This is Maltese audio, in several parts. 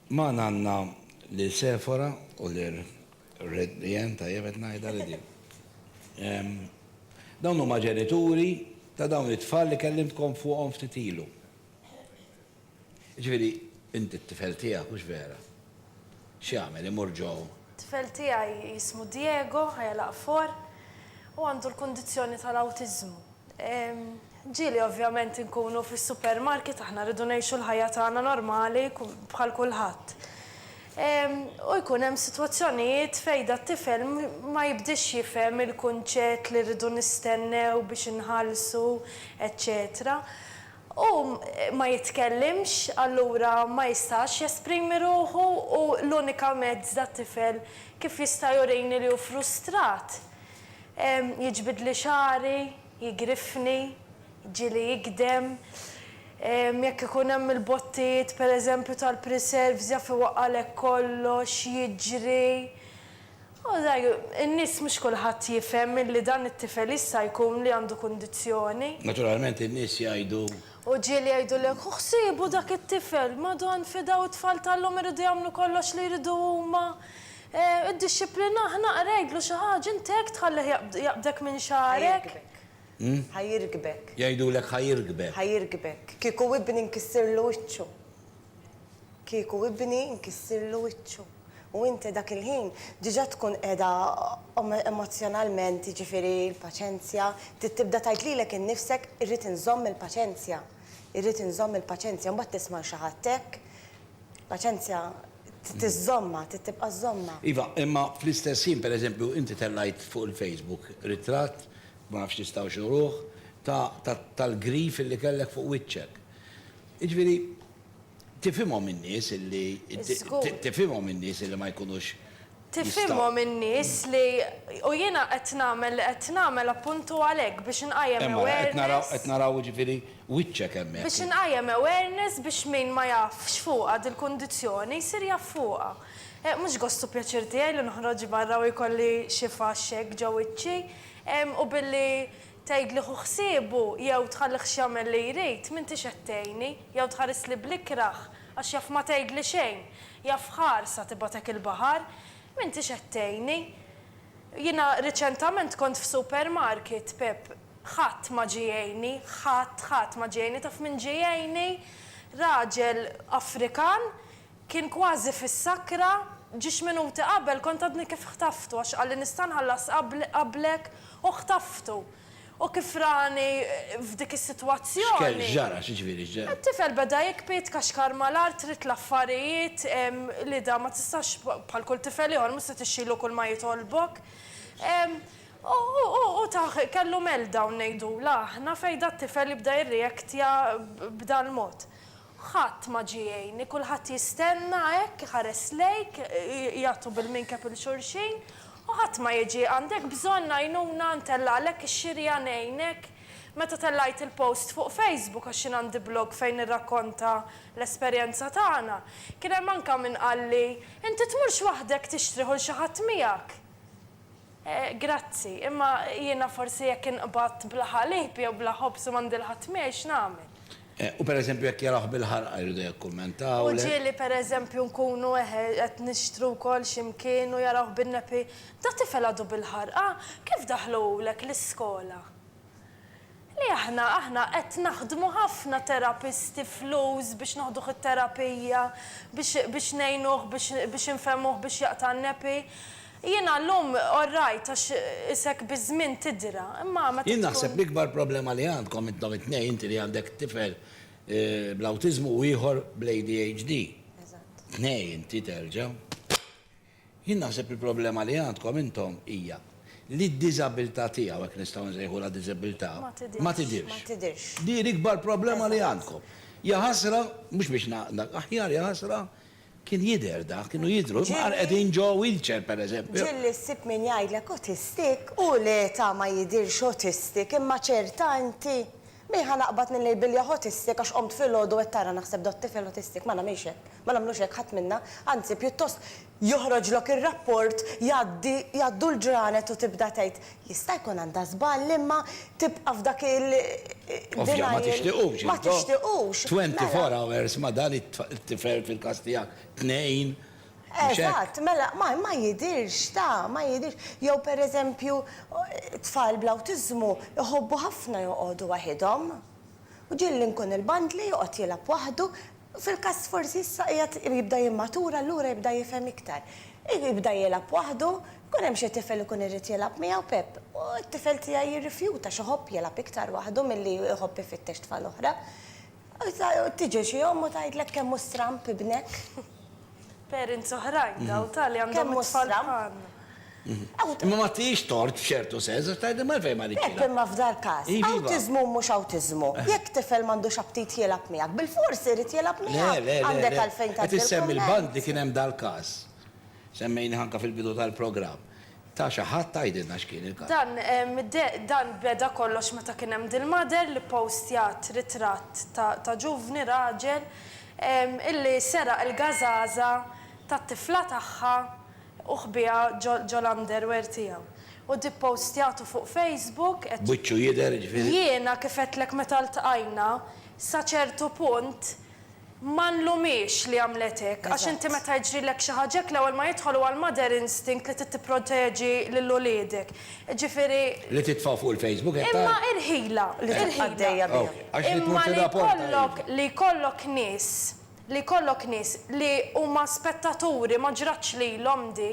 Magħna għandna lil Sefora u lil Jen, tajjeb qed ngħidha li din. Dawn huma ġenituri ta' dawn it-tfal li kellimtkom fuqhom ftit ilu. Jiġifieri, inti t-tifel tiegħek, hux vera? X'jagħmel, imur ġo? T-tifel tiegħi jismu Diego, ħajja l-aqfor, u għandu l-kundizzjoni tal-awtiżmu. Ġieli ovvjament inkunu fis-supermarket aħna rridu ngħixu l-ħajja tagħna normali bħal kulħadd. U jkun hemm sitwazzjonijiet fejn dat-tifel ma jibdiex jifhem il-kunċett li rridu nistennew biex inħallsu eċċetera. Hu ma jitkellimx, allura ma jistax jesprimi ruħu u l-unika mezz dat-tifel kif jista' jurini li hu frustrat Jiġbidli xagħri, jigriffni, jġieli jigdem. Jekk ikun hemm il-bottijiet per eżempju tal-preserves jaf iwaqqagħlek kollox, jiġri. U sai, in-nies mhux kulħadd jifhem illi dan it-tifel jista' jkun li għandu kundizzjoni. Naturalment in-nies jgħidu. U ġieli jgħidulek, Ħuh siebu dak it-tifel, Madonn, fidgħu t-tfal tal-lum iridu jagħmlu kollox li jridu huma. Iddixxiplina, ħnaqar, għidlu xi ħaġa, int hekk tħallih jaqbdek minn xagħarek? Ħa jirkbek. Jgħidulek ħa jirkbek. Ħa jirkbek. Kieku ibni nkissirlu wiċċu. Kieku ibni nkissirlu wiċċu. U inti dak il-ħin diġà tkun qiegħda emozzjonalment, jiġifieri l-paċenzja, trid tibda tgħid lilek innifsek irrid inżomm il-paċenzja. Irrid inżomm il-paċenzja. Mbagħad tisma' lil xi ħadd hekk, paċenzja. Trid iżżommha, trid tibqa' żżommha. Iva, imma fl-istess ħin, per eżempju, inti tellgħajt fuq il-Facebook ritratt, ma nafx tistgħux uruh, ta' tal-grif illi kellek fuq wiċċek. Jiġifieri, tifhimhom in-nies illi, tifhimhom in-nies illi ma jkunux Tifhimhom in-nies li u jiena qed nagħmel li qed nagħmel appuntu għalhekk biex inqajjem awareness. Hemm ara, qed naraw jiġifieri wiċċek hemmhekk. Biex inqajjem awareness biex min ma jafx fuqha dil-kundizzjoni jsir jaf fuqha. Mhux gost u pjaċir tiegħi li noħroġ barra u jkolli xi faxx hekk ġo wiċċi u billi Tgħidli hu ħsiebu jew tħallih x'jagħmel li jrid, m'intix qed tgħinni, jew tħarisli bl-ikrah għax jaf ma tgħidli xejn, jaf ħarsa tibgħatek il-baħar, m'intix qed tgħinni. Jiena riċentament kont f'supermarket, Pepp, ħadd ma ġie jgħinni, ħadd, ħadd ma ġie jgħinni, taf min ġie jgħinni? Raġel Afrikan Kien kważi fis-sakra, ġiex minuti qabel kont għadni kif ħtaftu għax qalli nista' nħallas qablek u ħtaftu. U kif rani f'dik is-sitwazzjoni. X'kien ġara, x'ġifieri x'ġara? It-tifel beda jikbi, jitkaxkar mal-art, rid l-affarijiet, Lida ma tistax bħal kull tifel ieħor mhux se tixxilu kull ma jitolbok. U tah kellu meltdown ngħidulha aħna fejn dat-tifel jibda jirreactja b'dal-mod. Ħadd ma ġie jgħinni, kulħadd jistenna hekk, iħares lejk, jagħtu bil-minkeb 'il xulxin, u ħadd ma jiġi. Għandek bżonn għajnuna ntellgħalek ix-xirja ngħinek? Meta tellgħajt il-post fuq Facebook għax jien għandi blog fejn nirrakkonta l-esperjenza tagħna, kien hemm anke min qalli, Inti tmurx waħdek tixtrih u l xi ħadd miegħek? Grazzi, imma jiena forsi jekk inqbad bla ħalib jew bla ħobż u m'għandi l-ħatmir, x'nagħmel? U pereżempju jekk jarawh bil-ħarqa jridu jikkummentawlek? U ġieli pereżempju nkunu qed nixtru wkoll xi mkien u jarawh bin-nepi, Da tifel għadu bil-ħarqa, kif daħluhulek l-iskola? Li aħna, aħna qed naħdmu ħafna terapisti flus biex noħduh it-terapija, biex, biex ngħinuh, biex, biex infehmuh biex jaqta' n-nepi. Jiena llum all right għax is hekk biż-żmien tidra, imma meta tkun. Jien naħseb l-ikbar problema li għandkom intom it-tnejn, inti li għandek tifel bl-awtiżmu u ieħor bl-ADHD. Eżatt. Tnejn inti terġa'. Jien naħseb li l-problema li għandkom intom hija li d-diżabilità tiegħu, hekk nistgħu nsejħulha diżabilità, ma tidhirx. Din hi l-ikbar problema li għandkom. Jaħasra, mhux biex ngħaqdlek, aħjar jaħasra kien jidher dak, kienu jidhru, imma hawn qegħdin ġo wheelchair pereżempju. Ġieli ssib min jgħidlek autistic u l-età ma jidhirx autistic imma ċerta inti. Min ħa naqbad nillejbilja ħotistik għax qomt filgħodu qed tara naħseb dott tifel ħotistik? Ma nagħmilx hekk. Ma nagħmlux hekk ħadd minna. Anzi, pjuttost joħroġlok ir-rapport, jgħaddi, jgħaddu l-ġranet u tibda tgħid, jista' jkun għandha żball imma tibqa' f'dak il, denial. Ovvja, ma tixtiqux, intom. Ma tixtiqux. Mela. Twenty four hours ma dan it-tifel fil-każ tiegħek tnejn Mhux hekk? Eżatt, mela ma, ma jidhirx, ta, ma jidhirx. Jew pereżempju, tfal bl-awtiżmu jħobbu ħafna joqogħdu waħidhom. U ġieli nkun il-band li joqgħod jilgħab waħdu, fil-każ forsi issa qiegħed jibda jimmatura allura jibda jifhem iktar. Jibda jilgħab waħdu, jkun hemm xi tifel ikun irid jilgħab miegħu, Pepp, u t-tifel tiegħi jirrifjuta għax iħobb jilgħab iktar waħdu milli jħobb ifittex tfal oħra. Tiġi xi omm u tgħidlek kemm hu stramb ibnek. Parents oħrajn dawn ta' li għandhom it-tfal bħalna. Imma ma tihiex tort f'ċertu sens għax tgħidilhom għalfejn ma ridtx. Pepp imma f'dal-każ, awtiżmu u mhux awtiżmu, jekk tifel m'għandux aptit jilgħab miegħek, bilfors irid jilgħab miegħek? Għandek għalfejn tgħaddi l-kumment. Le, le, le, le. Qed issemmi l-bandi kien hemm dal-każ. Semmejnieh anke fil-bidu tal-programm. Ta' xi ħadd tgħidilna x'kien il-każ. Dan dan beda kollox meta kien hemm dil-mother li ppostjat ritratt ta' ta' ġuvni raġel illi seraq il-gażaża tat-tifla tagħha u ħbieha ġo ġo l-underwear tiegħu. U di ppostjatu fuq Facebook qed. Wiċċu jidher jiġifieri. Jiena kif għedtlek meta ltqajna, sa ċertu punt Ma nlumhiex li għamlet hekk, għax inti meta jiġrilek xi ħaġa hekk l-ewwel ma jidħol huwa l-mother instinct li trid tipproteġi lil uliedek. Jiġifieri. Li titfgħu fuq il-Facebook qed tgħid? Imma irħilha, irħilha. Imma li jkollok, li jkollok nies, li jkollok nies li huma spettaturi, ma ġratx lilhom di,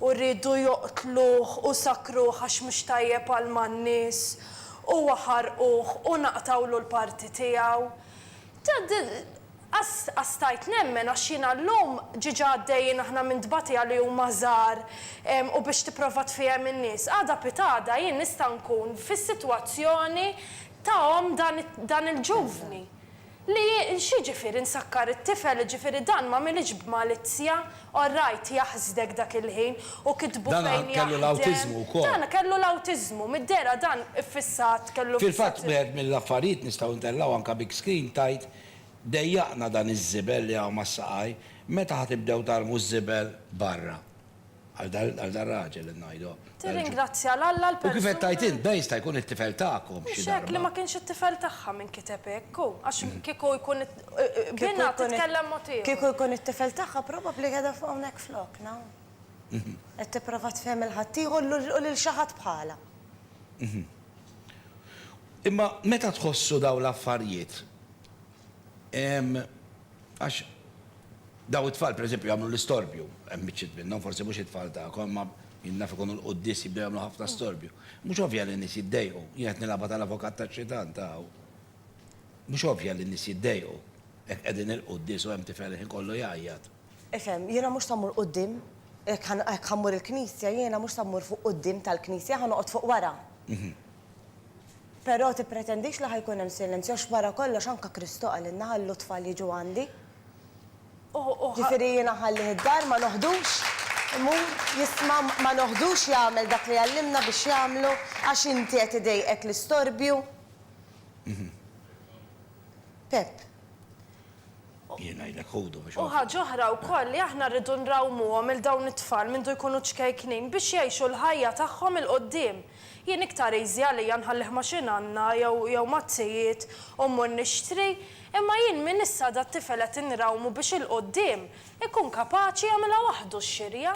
u riedu joqtluh u sakkruh għax mhux tajjeb għal man-nies, u ħarquh u naqtgħulu l-parti tiegħu. Qa stajt nemmen għax jiena llum, ġiġa għaddejjin aħna minn tbatija li huma żgħar u biex tipprova tfiehem in-nies, għada pitgħada jien nista' nkun fis-sitwazzjoni ta' omm dan il-ġuvni. Li x'jiġifieri nsakkar it-tifel jiġifieri dan m'għamilhiex b'malizzja, Orrajt, jaħsdek dak il-ħin u kitbu fejn jaħdem. Dan kellu l-awtiżmu wkoll. Dan kellu l-awtiżmu, mid-dehra dan iffissat, kellu fissat. Fil-fatt wieħed mill-affarijiet nistgħu ntellgħu anke big screen tgħid dejjaqna dan iż-żibel li hawn mas-saqaj, meta ħa tibdew tarmu ż-żibel barra? Għal dan raġel qed ngħidu. Tirringrazzja 'l Alla l-persuna. U kif qed tgħid int, beh, jista' jkun it-tifel tagħkom xi darba. Mhux hekk, li ma kienx it-tifel tagħha min kiteb hekk, hu, għax kieku jkun binha titkellem mod ieħor. Kieku jkun it-tifel tagħha probabbli qiegħda fuq hawnhekk flokna, hu. Qed tipprova tfehem lil ħaddieħor u lil xi ħadd bħalha. Imma meta tħossu dawn l-affarijiet, Għax daw it-tfal pereżempju jagħmlu l-istorbju, hemm biċċiet minnhom, forsi mhux it-tfal tagħkom, ma jien naf ikunu l-quddies jibdew jagħmlu ħafna storbju. Mhux ovvja li n-nies jiddejqu, jien qed nilgħabha tal-avukat tax-xitan ta' hawn. Mhux ovvja li n-nies jiddejqu, jekk qegħdin il-quddies u hemm tifel il-ħin kollu jgħajjat. Ifhem, jiena mhux se mmur quddiem, jekk ħa, jekk ħa mmur il-knisja, jiena mhux se mmur fuq quddiem tal-knisja, ħa noqgħod fuq wara. Però tippretendix li ħa jkun hemm silenzju għax wara kollox anke Kristu qalilna ħallu t-tfal jiġu għandi. U, u ħa. Ġifieri jiena nħallih id-dar ma noħdux, imur, jisma', ma noħdux jagħmel dak li għallimna biex jagħmlu għax inti qed idejqek l-istorbju. Pepp. Jien ngħidlek ħudu biex. U ħaġa oħra wkoll li aħna rridu nrawmuhom 'il dawn it-tfal mindu jkunu ċkejknin biex jgħixu l-ħajja tagħhom 'il quddiem. Jien iktar easy għalija nħallih ma' xi nanna jew jew mat-tijiet u mmur nixtri, imma jien minn issa dat-tifel qed inrawmu biex 'il quddiem ikun kapaċi jagħmilha waħdu x-xirja.